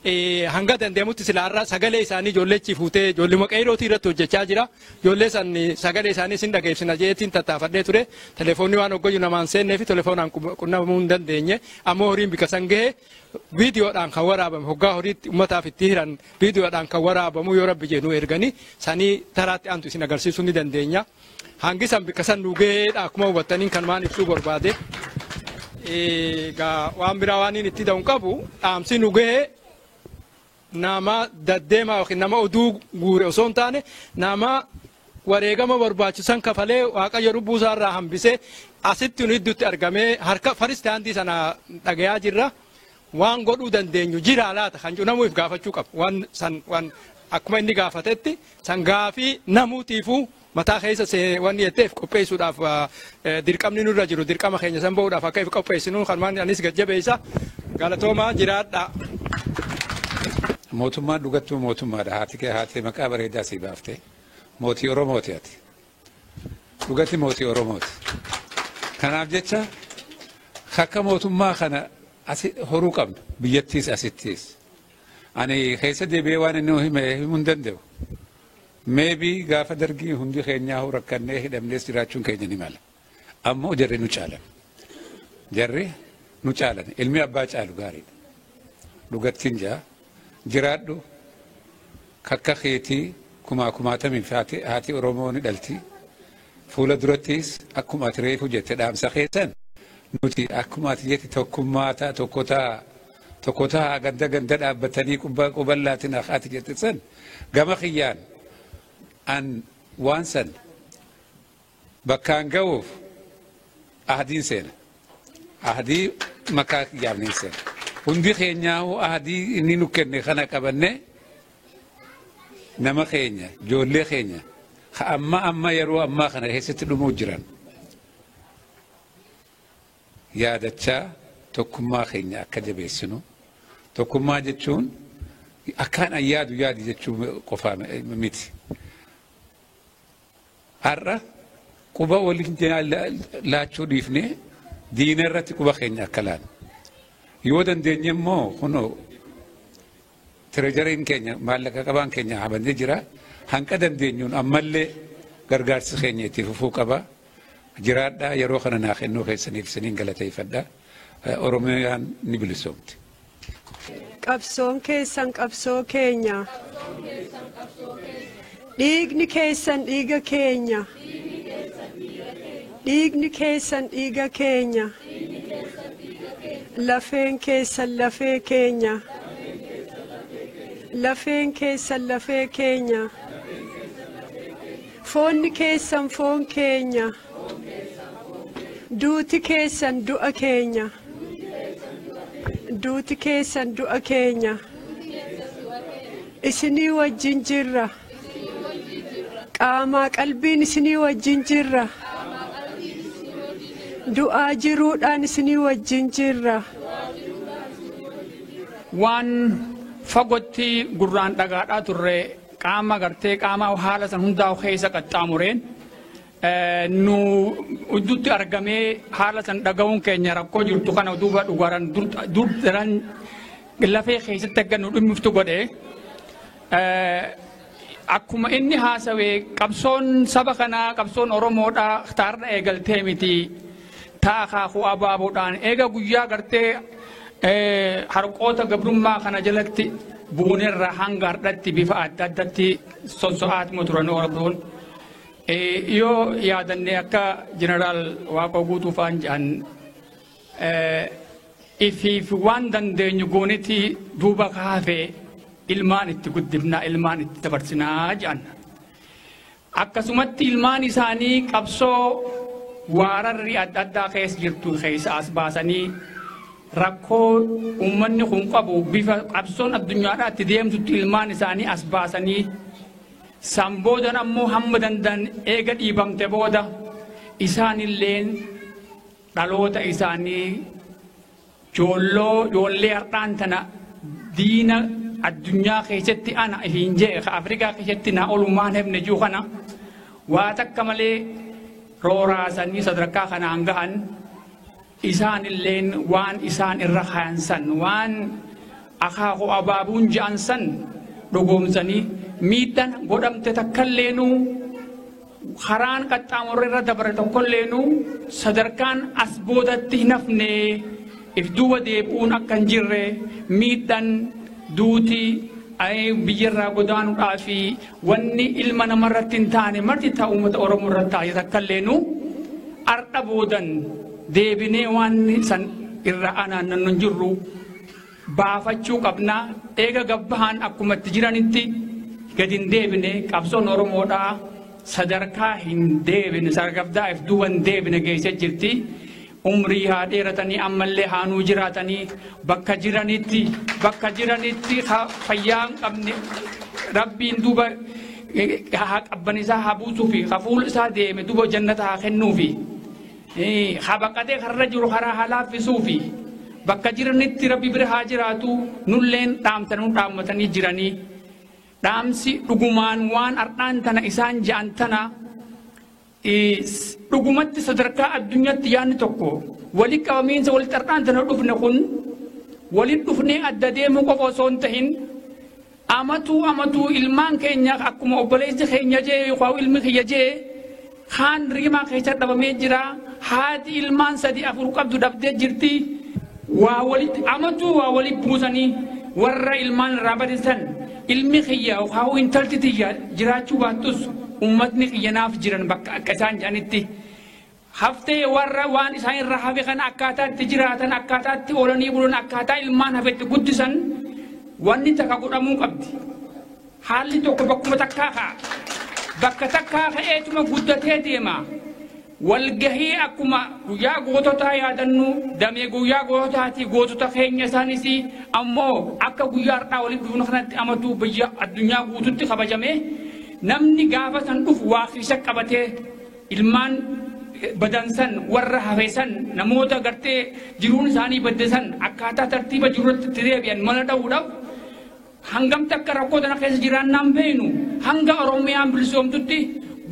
eh, hanga danda'amutti sila har'a sagalee isaanii ijoollee achi fuutee ijoolluma qeerootii irratti hojjechaa jira. Ijoollee san eh, sagalee isaanii sin dhageessina jeetiin tattaafadhee ture. Telefoonni waan hoggoyyu namaan seennee fi telefoonaan qu- qunnamuu hin dandeenye. Ammoo horiin bika san gahe viidiyoodhaan kan waraabame hoggaa horiitti uummataaf itti hiran viidiyoodhaan kan waraabamu yoo rabbi jedhu erganii sanii taraatti aantu isin agarsiisuu ni dandeenya. Hangi san bikka san nu gaheedha akkuma hubattaniin kan waan ibsuu barbaade. Egaa waan biraa waan inni itti da'u qabu dhaamsi nu gahee nama daddeemaa yookiin nama oduu guure osoo hin taane nama wareegama barbaachisan kafalee waaqayyo lubbuu isaa irraa hambisee asitti nu idduutti argamee harka faristaandii sana dhagayaa jirra. waan godhuu dandeenyu jiraa laata kan jedhu namuu if gaafachuu qaba. Waan san waan akkuma inni gaafatetti san gaafii namuutiifuu mataa keessa see- wanni jettee if qopheessuudhaaf ah, eh, dirqamni nurra jiru dirqama keenya san ba'uudhaaf akka if qopheessinu kan waan anis gajjabeessa galatoomaa jiraadhaa. Mootummaan dhugattuu mootummaadha. Haati kee haatee maqaa bareedaa sii baafte. Mootii Oromooti ati. Dhugatti mootii Oromooti. Kanaaf jecha akka mootummaa kana asi horuu qabna. Biyyattiis asittiis. Ani keessa deebi'ee waan inni hime himuu hin danda'u. Meebii gaafa dargii hundi keenyaa hoo rakkannee hidhamnees jiraachuun keenya ni mala. Ammoo jarri nu caalan. Jarri nu caalan. Ilmi abbaa caalu gaariidha. Dhugattiin jaa. Jiraadhu kakka keeti kumaa kumaatamiif haati Oromoo ni dhalti. Fuula durattis akkuma ati reefu jette dhaamsa kee san nuti akkuma ati jette tokkummaa ta'a tokko ta'a tokko ta'a ganda ganda dhaabbatanii qubba quballaatiin akka ati jette san gama kiyyaan an waan san bakkaan ga'uuf ahdiin seena. Ahdii makaa kiyyaaf ni seena. Hundi keenyaa'uu ahdii inni nu kenne kana qabannee nama keenya, ijoollee keenya ka amma amma yeroo ammaa kana keessatti dhumuu jiran yaadachaa tokkummaa keenya akka jabeessinu tokkummaa jechuun akkaan an yaadu yaadi jechuu qofaa miti. Har'a quba waliin laachuu dhiifnee diina irratti quba keenya akka laannu. Yoo dandeenye immoo kunoo tirejariin keenya maallaqa qabaan keenya habanee jira. Hanqa dandeenyuun ammallee gargaarsi keenya itti fufuu qaba. Jiraadhaa yeroo kana naa kennuu keessaniif isiniin galateeffadha. Oromiyaan ni bilisoomti. Qabsoon keessan qabsoo keenya. Dhiigni keessan dhiiga keenya. Dhiigni keessan dhiiga keenya. Lafeen keessan lafee keenya. Lafeen keessan lafee keenya. Foonni keessan foon keenya. Duuti keessan du'a keenya. Duuti keessan du'a keenya. Isinii wajjin jirra. Qaamaa qalbiin isinii wajjin jirra. Du'aa jiruudhaan isinii wajjin jirra. waan fagootti gurraan dhagaadhaa turre qaama gartee qaama haala san hundaa keessa qaxxaamureen nu uddutti argamee haala san dhaga'uun keenya rakkoo jirtu kana duuba dhugaran dur daran lafee keessatti akka nu dhimmiftu godhe akkuma inni haasawe qabsoon saba kanaa qabsoon oromoodhaa taarra eegaltee miti taa akaakuu abaaboodhaan eega guyyaa gartee harqoota gabrummaa kana jalatti buunerra hanga hardhatti bifa adda addatti sosso'aatuma turan oromoon. Yoo yaadanne akka Jeneraal Waaqoo Guutuu fa'aan jedhan ifiif waan dandeenyu goonitii duuba kaafee ilmaan itti guddifnaa ilmaan itti dabarsinaa jedhan. Akkasumatti ilmaan isaanii qabsoo waararri adda addaa keessa jirtu keessa as baasanii rakkoo uummanni kun qabu bifa qabsoon addunyaadhaa itti deemtutti ilmaan isaanii as baasanii San boodan ammoo hamma danda'an eega dhiibamte booda isaanilleen dhaloota isaanii joolloo joollee har'aan tana diina addunyaa keessatti ana hin jee ka Afrikaa keessatti naa olumaan hebne jiru kana waa takka malee rooraasanii sadarkaa kanaan gahan Isaanilleen waan isaan irra kayan san, waan akaakuu abaabuun je'an san dhugoomsanii, miidhan godhamte takkalleenuu, karaan qaxxaamurri irra dabre tokkolleenuu, sadarkaan as boodatti hin hafne, if duuba deebi'uun akka hin jirre, miidhan, duuti, biyyarraa godaanuudhaa fi Wanni ilma nama irratti hin taane marti ta uummata Oromoo irratti taate takka illeenuu ardha boodan deebinee waan san irra anaannannu hin jirru baafachuu qabna eega gabbahaan akkuma itti jiranitti gadi hin deebine qabsoon Oromoodhaa sadarkaa hin deebine sadarkaa if duuba hin deebine geessee jirti umrii haa dheeratanii ammallee haa nuu jiraatanii bakka jiranitti bakka jiranitti ha- fayyaa hin qabne rabbiin duuba eh, haa qabban isaa haa buusuu fi ha fuul isaa deeme duuba jannata haa kennuu fi eh, ha baqatee karra jiru karaa haa laaffisuu fi bakka jiranitti rabbi bira haa jiraatu nulleen dhaamtanuu dhaammatanii jiranii dhaamsi dhugumaan waan har'aan tana isaan ja'an tana Dhugumatti sadarkaa addunyatti yaanni tokko wali qabamiinsa wali xar'aantana dhufne kun wali dhufnee adda deemuu qofa osoo hin tahin amatuu amatuu ilmaan keenya akkuma obboleessi keenya jee yookaan ilmi kiyya jee kaan riimaa keessa dhabamee jira haati ilmaan sadi afur qabdu dhabdee jirti waa walitti amatuu waa walitti buusanii warra ilmaan irraa badisan Ilmi kiyya yookaan intalti tiyya jiraachuu baattus ummatni kiyya naaf jiran bakka akka isaan jedhanitti haftee warra waan isaan irraa hafe kana akkaataa itti jiraatan akkaataa itti oolanii bulan akkaataa ilmaan hafe itti guddisan wanni takka godhamuu qabdi. Haalli tokko bakkuma takkaa ka'a. Bakka takkaa ka'eetuma guddatee deema. Walgahii akkuma guyyaa goototaa yaadannuu damee guyyaa goototaatii gootota keenya isaanis ammoo akka guyyaa har'aa walitti dhufnu kanatti amatuu biyya addunyaa guututti kabajamee namni gaafa san dhufu waa kiisa qabatee ilmaan badansan warra hafesan namoota gartee jiruun isaanii baddesan akkaataa tartiiba jiruutti itti deebi'an mana dha'uudhaaf Hangam takka rakkoo tana keessa jiraannaan beeynu hanga Oromiyaan bilisoomtutti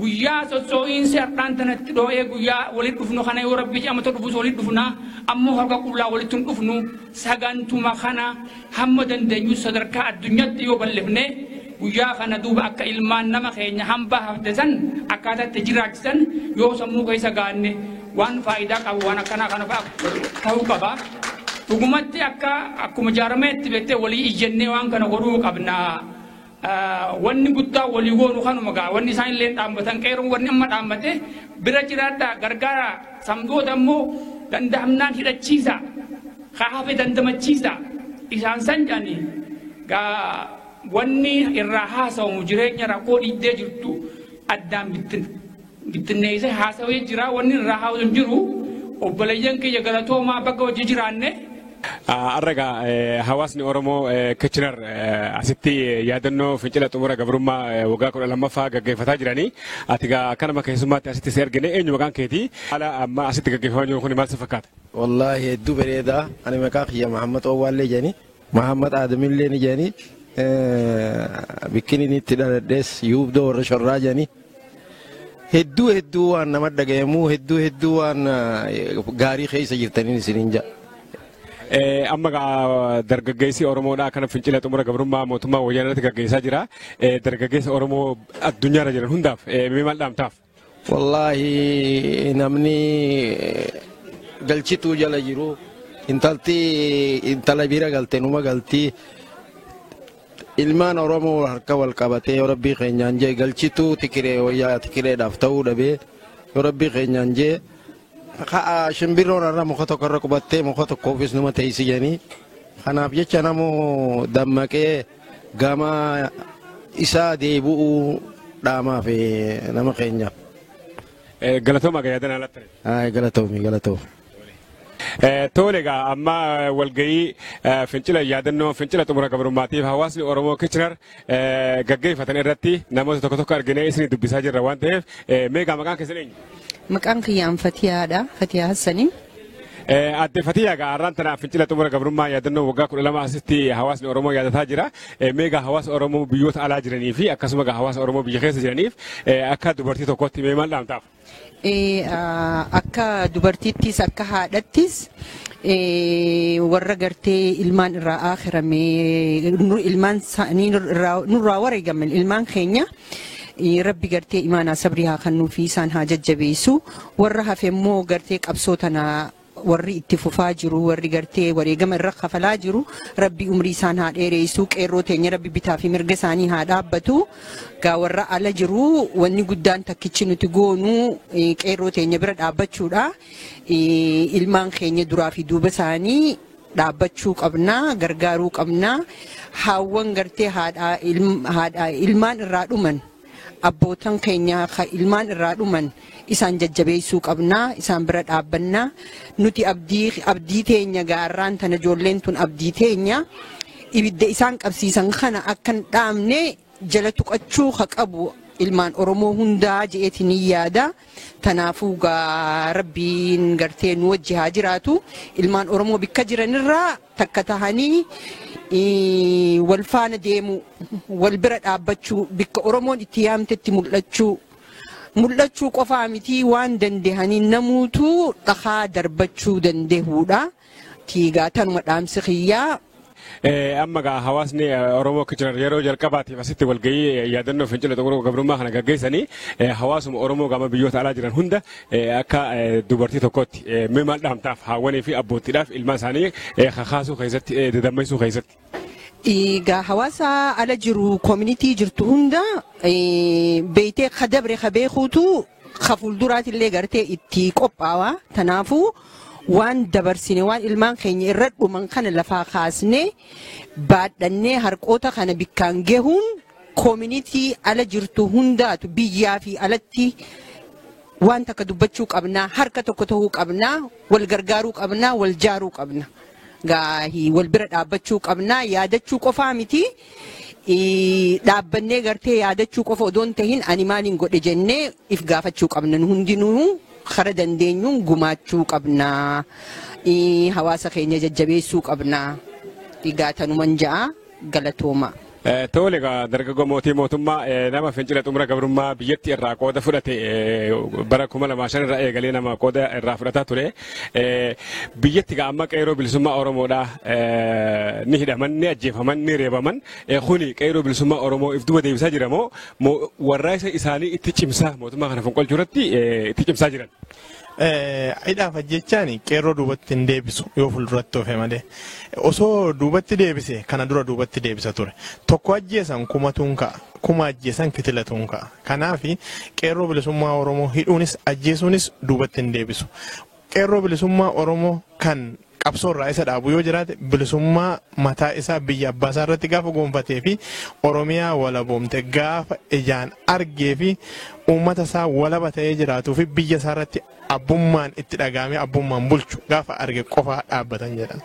guyyaa sossoo'iinsi har'aan tana itti dhoo'ee guyyaa walitti dhufnu kana yoo rabbi jedhamata dhufus walitti dhufna ammoo harka qullaa walitti hin dhufnu sagantuma kana hamma dandeenyu sadarkaa addunyaatti yoo bal'ifne guyyaa kana duuba akka ilmaan nama keenya hambaa hafte san akkaataa itti jiraachisan yoo sammuu keessa gaanne waan faayidaa qabu waan akkanaa kana fa'a ta'uu qaba. Dhugumatti akka akkuma jaarmayaatti beektee walii iyyannee waan kana godhuu qabna. Wanni guddaa walii goonu kanuma ga'a. Wanni isaan illee dhaabbatan qeeroon wanni amma dhaabbate bira jiraadhaa gargaara. Samdoota immoo danda'amnaan hidhachiisa. Haa hafe dandamachiisa. Isaan san jedhanii wanni irraa haasawamu jireenya rakkoo dhiiddee jirtu addaan bittina. bittinneessee haasawee jira wanni irraa haa'u hin jiru obboleeyyan kiyya galatoomaa bakka hojii jiraanne. Har'a egaa hawaasni Oromoo Kitchener asitti yaadannoo fincila xumura gabrummaa waggaa kudha lammaffaa gaggeeffataa jiranii ati egaa akkanuma keessummaatti asitti si argine eenyu maqaan keetii haala amma asitti gaggeeffamaa jiru kun maal si fakkaata? Wallaahi hedduu bareeda ani maqaa kiyya Mahammad Owwaallee jedhani Mahammad Aadamillee ni jedhanii bikkiniin itti dhaladhees yuubdoo warra shorraa jedhanii hedduu hedduu waan nama dhaga'amuu hedduu hedduu waan gaarii keessa jirtaniin isiniin jedha. Amma dargaggeessi Oromoodhaa kana fincila xumura gabrummaa mootummaa wayyaanatti gaggeessaa jira. Dargaggeessa Oromoo addunyaarra jiran hundaaf mee maal dhaamtaaf? Wallaahi namni galchituu jala jiru intalti intala bira galte numa galti ilmaan oromoo harka wal qabatee yoo rabbii keenyaan jee galchituu tikiree wayyaa tikireedhaaf ta'uu dhabee yoo rabbii keenyaan jee ka'a shimbirroon irra muka tokko irra qubattee muka tokkoofis numa teessi jedhanii kanaaf jecha namoo dammaqee Gama isaa deebi'uu dhaamaa fi nama keenyaaf. Galatooma egaa yaadana lattare. Ayi galatoomi galatoomi. Tole egaa amma walgahii fincila yaadannoo fincila xumura gabrummaatiif hawaasni Oromoo Kichinar gaggeeffatan irratti namoota tokko tokko arginee isin dubbisaa jirra waan ta'eef meegaa maqaan keessan eenyu? Maqaan kiyyaan Fatiyaadha. Fatiyaa Hassaniin. Adde Fatiyaa egaa har'aan tana fincila xumura gabrummaa yaadannoo waggaa kudha lama asitti hawaasni Oromoo yaadataa jira. Mee egaa hawaasa Oromoo biyyoota alaa jiranii fi akkasuma egaa hawaasa Oromoo biyya keessa jiraniif akka dubartii tokkootti mee maal dhaamtaaf? Akka dubartiittis akka haadhattis warra gartee ilmaan irraa aakhiramee ilmaan nurraa wareegaman ilmaan keenya Rabbi gartee imaanaa sabrii haa kennuu fi isaan haa jajjabeessu. Warra hafe immoo gartee qabsoo tana warri itti fufaa jiru warri gartee wareegama irra kafalaa jiru rabbi umrii isaan haa dheereessu qeerroo teenya rabbi bitaa fi mirga isaanii haa dhaabbatu gaa warra ala jiru wanni guddaan takkichi nuti goonu qeerroo teenya bira dhaabbachuudha ilmaan keenya duraa fi duuba isaanii dhaabbachuu qabna gargaaruu qabna haawwan gartee haadhaa ilm- haadhaa ilmaan irraa dhuman abbootan keenya ka ilmaan irraa dhuman isaan jajjabeessuu qabna isaan bira dhaabbanna nuti abdii abdii teenya gaarraan tana ijoolleen tun abdii teenya ibidda isaan qabsiisan kana akkan dhaamne jala tuqachuu ka qabu ilmaan oromoo hundaa je'eetiin yaada. Tanaafuu gaa rabbiin gartee nu wajji haa jiraatu ilmaan oromoo bikka jiranirraa takka tahanii ii, wal faana deemuu wal bira dhaabbachuu bikka oromoon itti yaamtetti mul'achuu mul'achuu qofaa mitii waan dandehanii namuutuu dhakaa darbachuu dandehuudha. tiigaa tanuma dhaamsi kiyyaa. Amma gaa hawaasni Oromoo akka jiran yeroo jalqabaatiif asitti walgahii yaadannoo fincila xumuruu gabrummaa kana gaggeessanii hawaasuma Oromoo gama biyyoota alaa jiran hunda akka dubartii tokkootti mee maal dhaamtaaf haawwanii fi abboottiidhaaf ilmaan isaanii kakaasuu keessatti dadammaisuu keessatti. Egaa hawaasa ala jiru community jirtu hunda eh, beeytee ka dabre ka beekuutu ka fuulduraati illee gartee itti qophaawa. Kanaafuu waan dabarsine waan ilmaan keenya irra dhuman kana lafaa kaasnee baadhannee harqoota kana bikkaan gahuun community ala jirtu hundaatu biyyaa fi alatti Waan takka dubbachuu qabna, harka tokko ta'uu qabna, wal gargaaruu qabna, wal jaaruu qabna. Gaahii wal bira dhaabbachuu qabna, yaadachuu qofaa miti. Ii, Dhaabbannee gartee yaadachuu qofa odoo hin tahin ani maaliin godhe jennee if gaafachuu qabna. Nu hundinuu kara dandeenyuun gumaachuu qabna. Ii, Hawaasa keenya jajjabeessuu qabna. Egaa tanuman ja'a. Galatoomaa. Tole egaa dargaggoo mootii mootummaa nama fincila xumura gabrummaa biyyatti irraa qooda fudhate bara kuma lamaa shan irraa eegalee nama qooda irraa fudhataa ture. Biyyatti egaa amma qeeroo bilisummaa Oromoodhaa ni hidhaman ni ajjeefaman ni reebaman kuni qeeroo bilisummaa Oromoo if duba deebisaa jira moo warraaqsa isaanii itti cimsaa mootummaa kana fonqolchuu irratti itti cimsaa jiran. Hidhaaf ajjechaan qeerroo duubatti hin deebisu yoo fuulduratti ofe malee osoo duubatti deebise kana dura duubatti deebisa ture tokko ajjeesan kumatuun ka'a kuma ajjeesan kitilatuun ka'a kanaaf qeerroo bilisummaa oromoo hidhuunis ajjeesuunis duubatti hin deebisu qeerroo bilisummaa oromoo kan qabsoo irraa isa dhaabu yoo jiraate bilisummaa mataa isaa biyya abbaa isaa irratti gaafa goonfatee fi Oromiyaa walaboomte gaafa ijaan argee fi uummata isaa walaba ta'ee jiraatuu fi biyya isaa irratti abbummaan itti dhagaamee abbummaan bulchu gaafa arge qofaa dhaabbatan jedhan.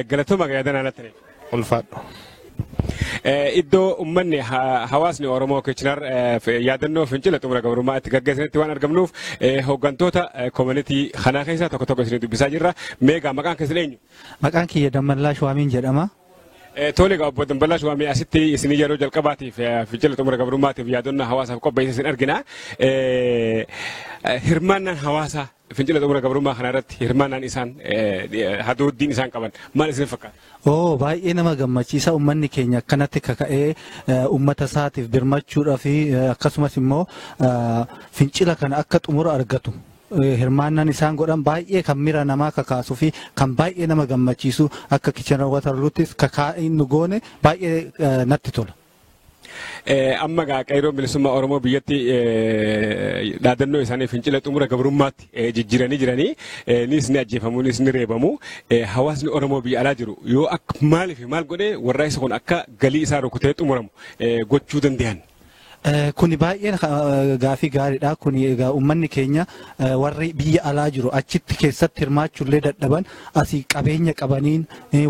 Galatooma yaadana lattaniif. ulfaadhu. Iddoo uummanni hawaasni Oromoo Kichinar yaadannoo fincila xumura gabrummaa itti gaggeessanitti waan argamnuuf hooggantoota koominitii kanaa keessaa tokko tokko isin dubbisaa jirra. Meegaa maqaan keessan eenyu? Maqaan kiyya Dammallaa Shuwaamiin jedhama. Tole egaa obbo Dammallaa Shuwaamii asitti isin yeroo jalqabaatiif fincila xumura gabrummaatiif yaadannoo hawaasaaf qopheesse isin argina. Hirmaannaan hawaasaa Fincila xumura gabrummaa kana irratti hirmaannaan isaan hadooddiin isaan qaban maal isin fakkaata? Oo baay'ee nama gammachiisa uummanni keenya akkanatti kaka'ee uummata isaatiif birmachuudhaa fi akkasumas immoo fincila kana akka xumura argatu hirmaannaan isaan godhan baay'ee kan miira namaa kakaasuu fi kan baay'ee nama gammachiisu akka kichan watarluuttis kakaa'in nu goone baay'ee natti tola. Amma gaa qeerroon bilisummaa Oromoo biyyatti dhaadannoo isaanii fincila xumura gabrummaatti jijjiiranii jiranii nis ni ajjeefamu nis ni reebamu hawaasni Oromoo biyya alaa jiru yoo akka maaliif maal godhee warra isa kun akka galii isaa rukutee xumuramu gochuu danda'an. Kuni baay'een gaafii gaariidha. Kuni egaa uummanni keenya warri biyya alaa jiru achitti keessatti hirmaachuullee dadhaban asii qabeenya qabaniin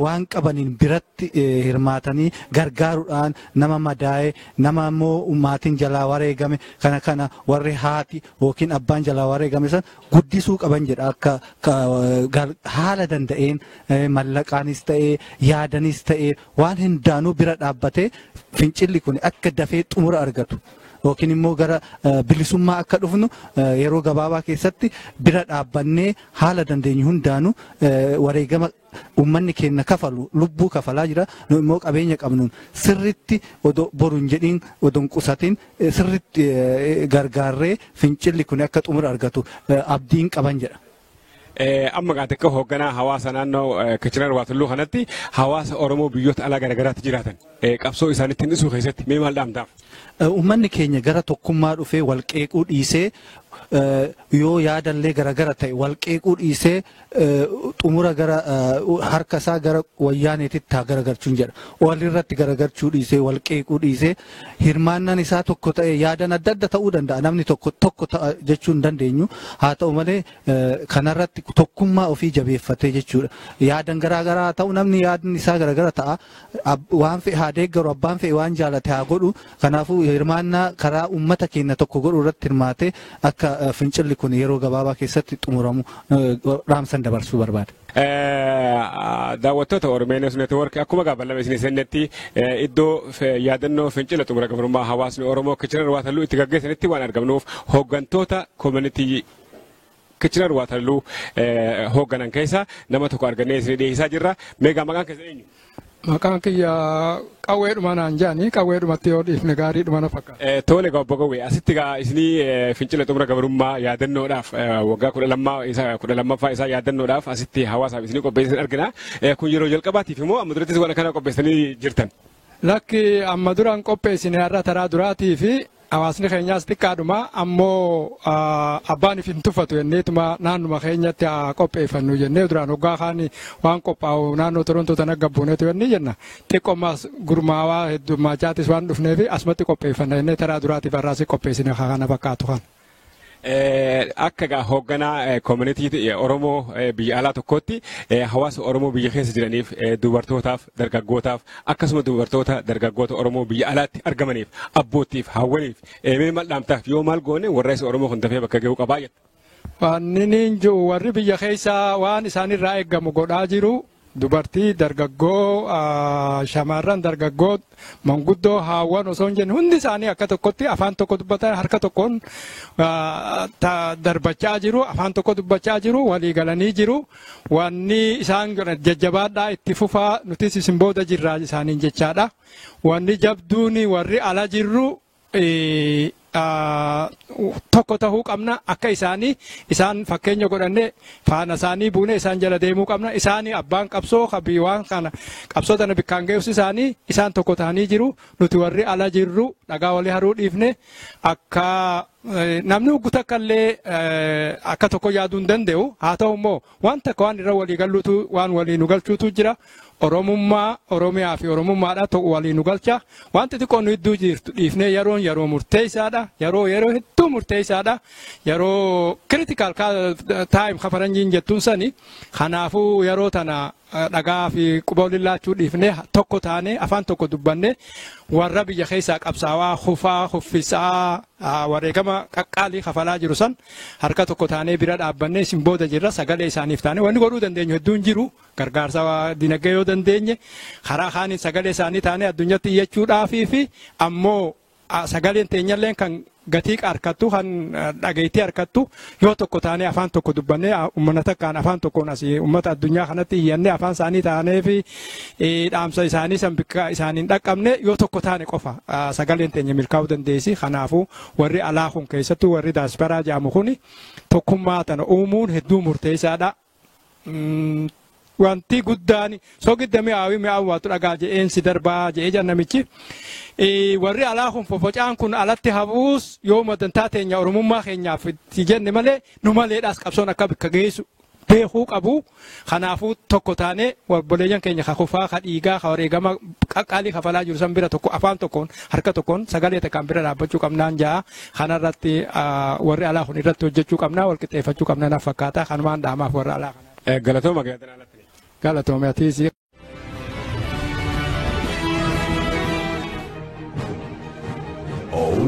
waan qabaniin biratti hirmaatanii gargaaruudhaan nama madaa'e nama immoo maatiin jalaa wareegame kana kana warri haati yookiin abbaan jalaa wareegame san guddisuu qaban jedha akka haala danda'een mallaqaanis ta'ee yaadanis ta'ee waan hundaanuu bira dhaabbatee fincilli kun akka dafee xumura argatu. yookiin immoo gara bilisummaa akka dhufnu yeroo gabaabaa keessatti bira dhaabbannee Haala dandeenyu hundaanuu wareegama uummanni keenya kafalu lubbuu kafalaa jira. Nu immoo qabeenya qabnuun sirriitti odoo boru hin jedhiin odoo hin qusatiin sirriitti gargaarree fincilli kun akka xumura argatu abdiin qaban jedha. Amma gaa xiqqoo hoogganaa hawaasa naannoo Kichirar Waatulluu kanatti hawaasa Oromoo biyyoota alaa garaagaraatti jiraatan. eh, qabsoo isaaniitti hir'isuu keessatti mee maal dhaamtaaf? Eh, Uummanni keenya gara tokkummaa dhufee wal qeequu dhiisee eh, yoo yaadallee garagara ta'e wal qeequu dhiisee eh, xumura gara eh, harka isaa gara wayyaaneetitti haa garagarchuun jedha. Walirratti garagarchuu dhiisee wal qeequu dhiisee hirmaannaan isaa tokko ta'e yaadan adda adda ta'uu danda'a namni tokko tokko ta'a jechuu hin dandeenyu haa ta'u malee eh, kanarratti tokkummaa ofii jabeeffatee jechuudha. Yaadan garaagaraa haa ta'u namni yaadni isaa garaagara ta'a Ab- waan fe'e haa deeggaru abbaan fe'e waan jaalate haa godhu kanaafuu hirmaannaa karaa uummata keenya tokko godhu irratti hirmaatee akka eh, fincilli kun yeroo gabaabaa keessatti xumuramu eh, dhaamsan dabarsuu barbaada. Eh, daawwattoota Oromeenos Network akkuma gaafanname isin isinnetti eh, iddoo fe- yaadannoo fincila xumura gabrummaa hawaasni Oromoo kichiran waatalluu itti gaggeessanitti waan argamnuuf hooggantoota koominitii Kitchener Waterloo hoogganan keessa nama tokko argannee isin dhiyeessaa jirra. Meegaa maqaan keessan eenyu? Maqaan kiyya qawweedhuma naan jaani qawweedhumatti yoo dhiifne gaariidhuma na fakkaata. Tole egaa obbo Gawwee asitti egaa isinii fincila xumura gabrummaa yaadannoodhaaf waggaa kudha lammaa isa kudha lammaffaa isaa yaadannoodhaaf asitti hawaasaaf isinii qopheessan argina. Kun yeroo jalqabaatiif immoo amma durattis waan kana qopheessanii jirtan. Lakki amma dura hin qopheessine har'a taraa duraatii fi hawaasni keenyaas xiqqaadhuma ammoo abbaan hin tuffatu jenneetuma naannuma keenyatti haa qopheeffannu jennee duraan hoggaa kaan waan qophaa'u naannoo Torontoo tana gabbuuneetu jennee jenna xiqqoomaas gurmaawaa heddummaachaattis waan dhufneef asumatti qopheeffanna jennee taraa duraatiif har'aas qopheessine kana fakkaatu kana. Akka egaa hoogganaa koomunitii Oromoo biyya alaa tokkootti hawaasa Oromoo biyya keessa jiraniif dubartootaaf dargaggootaaf akkasuma dubartoota dargaggoota Oromoo biyya alaatti argamaniif abboottiif hawwaniif mee maal dhaamtaaf yoo maal goone warraaqsi Oromoo kun dafee bakka ga'uu qabaa jettu. Wanni niin jiru warri biyya keessaa waan isaanirraa eegamu godhaa jiru Dubartii, dargaggoo, shamarran, dargaggoo, manguddoo, haawwan osoo hin jenne hundi isaanii akka tokkotti afaan tokko dubbatan harka tokkoon darbachaa jiru, afaan tokko dubbachaa jiru, walii galanii jiru. Wanni isaan godhan jajjabaadhaa itti fufaa nutis isin booda jirraa isaaniin jechaadha. Wanni jabduun warri ala jirru tokko tahuu qabna akka isaanii isaan fakkeenya godhanne faana isaanii buune isaan jala deemuu qabna isaanii abbaan qabsoo kabii waan kana qabsoo tana bikkaan geessu isaanii isaan tokko tahanii jiru nuti warri ala jirru dhagaa walii haruu dhiifne akka namni ugguta akkallee akka tokko yaaduu hin danda'u haa ta'u immoo Waan takka waan irra walii galluutu waan walii nu galchuutu jira. Oromummaa, Oromiyaa fi Oromummaadha ta'u walii nu galcha. Waan xixiqqoo nu idduu jirtu dhiifnee yeroon yeroo murteessaadha. Yeroo yeroo hedduu murteessaadha. Yeroo critical time kafaranjiin jettuun sani. Kanaafuu yeroo tana dhaga'aa fi quba waliin laachuu dhiifnee tokko taanee afaan tokko dubbannee warra biyya keessaa qabsaawaa kufaa kuffisaa wareegama qaqqaalii kafalaa jiru san harka tokko taanee bira dhaabbannee isin booda jirra sagalee isaaniif taane wanni godhuu dandeenyu hedduun jiru gargaarsa dinagdee yoo dandeenye karaa kaaniin sagalee isaanii taanee addunyatti iyyachuudhaafii fi ammoo Sagaleen teenyalleen kan gatii harkattu kan dhageettii harkattu yoo tokko taanee afaan tokko dubbannee uummata takkaan afaan tokkoon asii uummata addunyaa kanatti iyyannee afaan isaanii taanee fi dhaamsa isaanii san bakka isaaniin dhaqqabne yoo tokko taane qofa sagaleen teenya milkaa'uu dandeessi. Kanaafuu warri alaa kun keessattuu warri daasparaa jedhamu kun tokkummaa tana uumuun hedduu murteessaadha. wanti guddaan sogidda mi'aawii mi'aawuu waatu dhagaa je'een si darbaa je'ee jedhan namichi. Warri alaa kun fofocaan kun alatti hafuus yoo madantaa teenya oromummaa keenyaaf itti jenne malee nu maleedhaas qabsoon akka bakka geessu beekuu qabu. Kanaafuu tokko taanee obboleeyyan keenya ka kufaa ka dhiigaa ka wareegama qaqqaalii kafalaa jiru san bira tokko afaan tokkoon harka tokkoon sagalee takkaan bira dhaabbachuu qabnaan ja'a. Kana irratti warri alaa kun irratti hojjechuu qabna wal qixxeeffachuu qabna na fakkaata kanumaan dhaamaaf warra alaa kana. Galatooma gaazexaa alatti. Galatooma atiis. Oh.